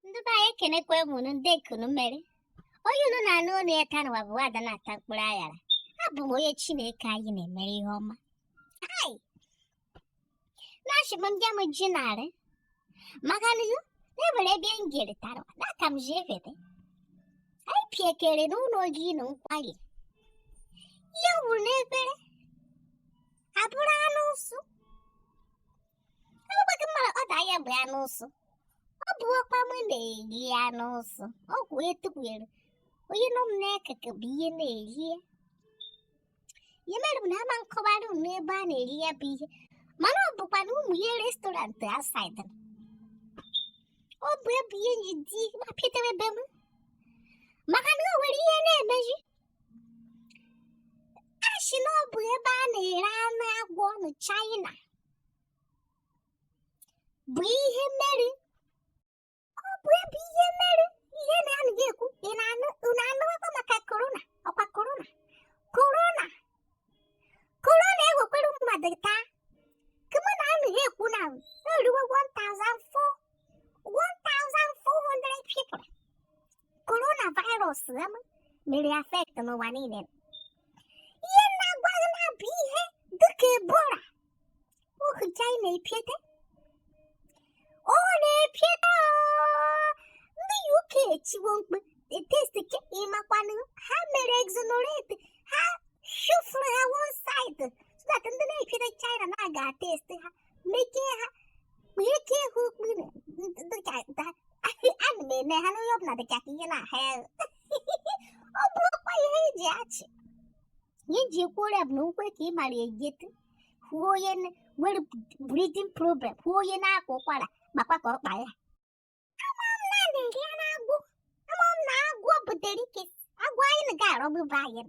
ndị be anyị ekenekwa m unu nde ka unu mere onye unu na-anụ onu ya taa nụwa bụ ada na-ata mkpụrụ aṅara abụ m onye chineke anyị na-emere ihe ọma ai na-achịbụ ndị m ji narị maka na o nwere ebe m jere taa nụwa na ka m ji efete anyị piekere n'ụnọ oriri na nkwari ihe wuru n'efere abụrụ anụ ụsụ Agbaka mara order ya bụ anụ ụsụ. Ọ bụ ọkwa m na-eri anụ ụsụ. Ọ kwụ etukwere. Onye nọ m n'akụkụ bụ ya na-eri ya. Ya mere m na ama m kọwara unu ebe a na-eri ya bụ ihe. Mana ọ bụkwa na ụmụ ihe restaurant outside. Ọ bụ ya bụ ihe m ji di mapịtara ebe m. Maka na o nwere ihe na-emeji. a shị na ọ bụ ebe a na-ere anụ agwọ na China bụ ihe mere ọ bụ ya bụ ihe mere ihe ana ha ekwu ị na-anụ unu anụwakwa maka korona ọkwa korona korona korona ewekwere mmadụ taa kama na ana ha ekwu na o ruwe 1400 people korona virus ama mere affect n'ụwa niile ihe na-agwa gị na ọ bụ ihe dịka ebola ohu china epiete ọ na-epiete ndị uk echiwo mkpe test ke ịmakwanụ ha mere exonerate ha shufuru ha one side so that ndị na-epiete china na-aga test ha Mekee ha. Bekee ha okpuru. Dịka da. Ana m eme ha n'onye ọbụla dịka ka ihe na-aha ya. Ọ bụrụkwa ihe eji ashị. Ihe eji ekwu ọrịa bụ na nkwe ka ị mara ejete. Hụ onye nwere breathing problem. Hụ onye na-akwa ụkwara. Makwa ka ọ kpa ya. ọgbụgba anyị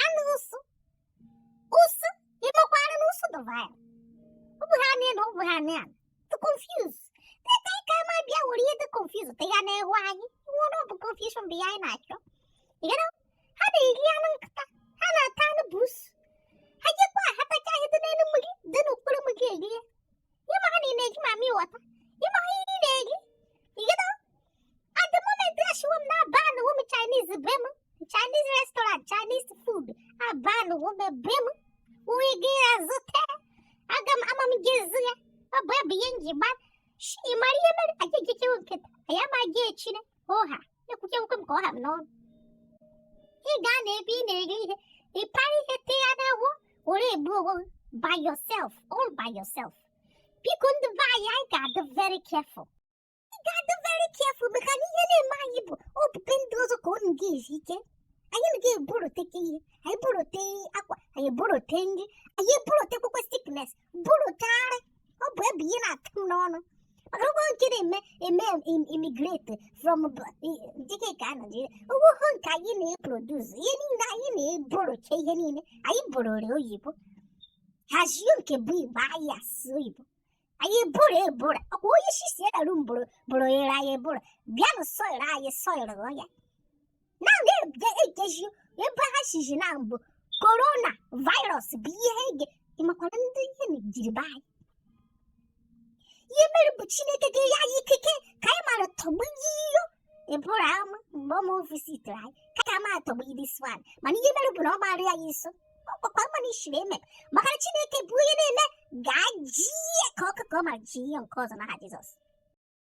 anụ ụsụ ụsụ ịmakwara na ụsụ dụva ya ọ bụ ha niile ọ bụ ha niile to confuse teta ka ama bịa were ihe dị confuse te ya na-ehu anyị nwere ọ bụ confusion bụ ya anyị na-achọ ha na-eri anụ nkịta ha na-ata anụ bụ ụsụ ha jekwa ha tacha ihe dị n'elu mmiri dị n'okpuru mmiri erie ịma ha niile gị mami wata ịma ha niile gị igedo at the moment ashiwo m na abanuwo m Chinese be m Chinese restaurant Chinese food abanuwo m be m onye ga-azụta aga m ama m ga-azụ ya ọ bụ ya bụ ihe m ji ban ịmara ihe mere anyị ejechewo nkịta anyị ama eje China oha ekwuchi ekwukwe m ka ọ ha m n'ọnụ ị gaa na ebe ị na-eri ihe ị para ihe tee ya n'ahụ were egbu onwe gị by yourself all by yourself biko ndị be anyị anyị ga-adị very careful ị ga-adị very careful maka na ihe na-eme anyị bụ ọ bụ nke ndị ọzọ ka unu ga-esi ike anyị na ga-eburoteke ihe anyị burotee akwa anyị eburotee nri anyị eburotekwekwe sickness bụrụ karị ọ bụ ebe ihe na-atụ m n'ọnụ maka ụgwọ nke na-eme eme immigrate from dịka ka a Naịjirịa o nwehụ nke anyị na-eproduce ihe niile anyị na-eborocha ihe niile anyị boroo oyibo hazie nke bụ igbo anyị asụ oyibo anyị bụrụ ebụrụ ọkwa onye isi si elu mbụrụ bụrụ ere anyị ebụrụ bịanụ soro anyị soro ya na ga-ekeji ebe ha shizi na mbụ corona virus bụ ihe ga ịmakwara ndị ihe jiri be anyị ihe mere bụ chineke ga-enye anyị ikike ka anyị mara tọgbu iyo ịbụrụ ama mgbe ọma visitere anyị ka ka ma atọgbu ihe this one mana ihe mere bụ na ọ maara ya iso ọkpakpa mana ishiri eme maka na chineke bụ onye na-eme ga-aji ya ka ọkụkọ ma ji ihe nke ọzọ n'aha jizọs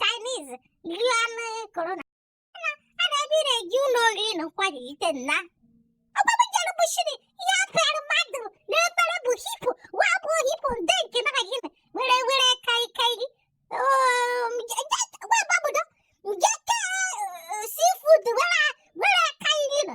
Chinese lion corona na a na-ebiri eje ụlọ oriri na nkwari ite nna ọgbagba jere bụchiri ihe a paara mmadụ n'efere bụ hippo wee bụ hippo nde nke na gị were were kai kai gị wee gbabudo nke ka seafood were were kai gị nọ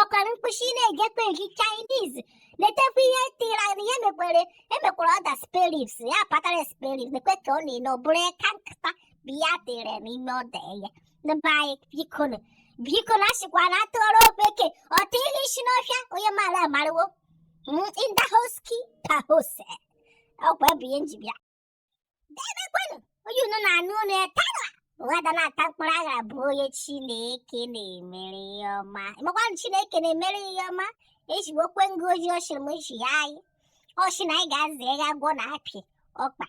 Ọ kọrọ mkpụsị ị na-ejekwa eri Chinese na-etekwa ihe tira na ihe mekwere emekwara order spareribs ya patara spareribs na-ekwe ka ọ na-ele ọ bụrụ eka nkịta bụ ya tere n'ime order ya ndị be anyị biko nụ biko na asịkwa na a tụọrọ ofeke o tinye isi n'ọhịa onye maara amarawo Mm, in the house keeper house ọkwa bụ ihe m ji bịa debekwanụ onye unu na-anụ unu ya tara ụwa da na-ata mkpụrụ aghara bụ onye chineke na-emere ihe ọma ịmakwanụ chineke na-emere ihe ọma ejigbo okwe ngụ ojii ọchịrị m echi ya anyị ọchị na anyị ga-aza eghe agwọ na apị ọkpa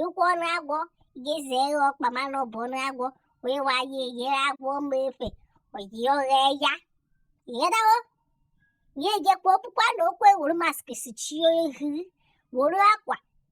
ịkwụ ọnụ agwọ ga-eze eghe ọkpa mana ọ bụ ọnụ agwọ wee wa ya eyere agwọ ma efe oyi oghe ya ịghọtawo ya ejekwa okpukpa na okwe wuru mask sichie ihu wuru akwa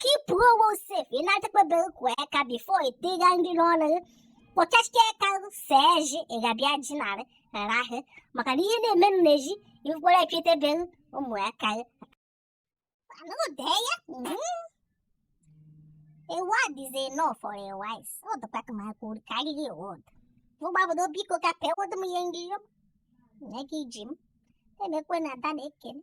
keepuo onwe safe ị na-adịkpebere kwọọ aka before ịtịga nri n'ọnụ gị kpọchachike ka see ji ị ga-abịa ji narị rara ahụ maka na ihe na-eme m na ji ikwere epitebere ụmụ ya ka gị anụdee ya a word is enough for a wise ọ dịkwa ka ma kwuru karịa word mụgbabodo biko ka pewodo m ihe ngiri m nye gị ji m emekwe na ada na ekele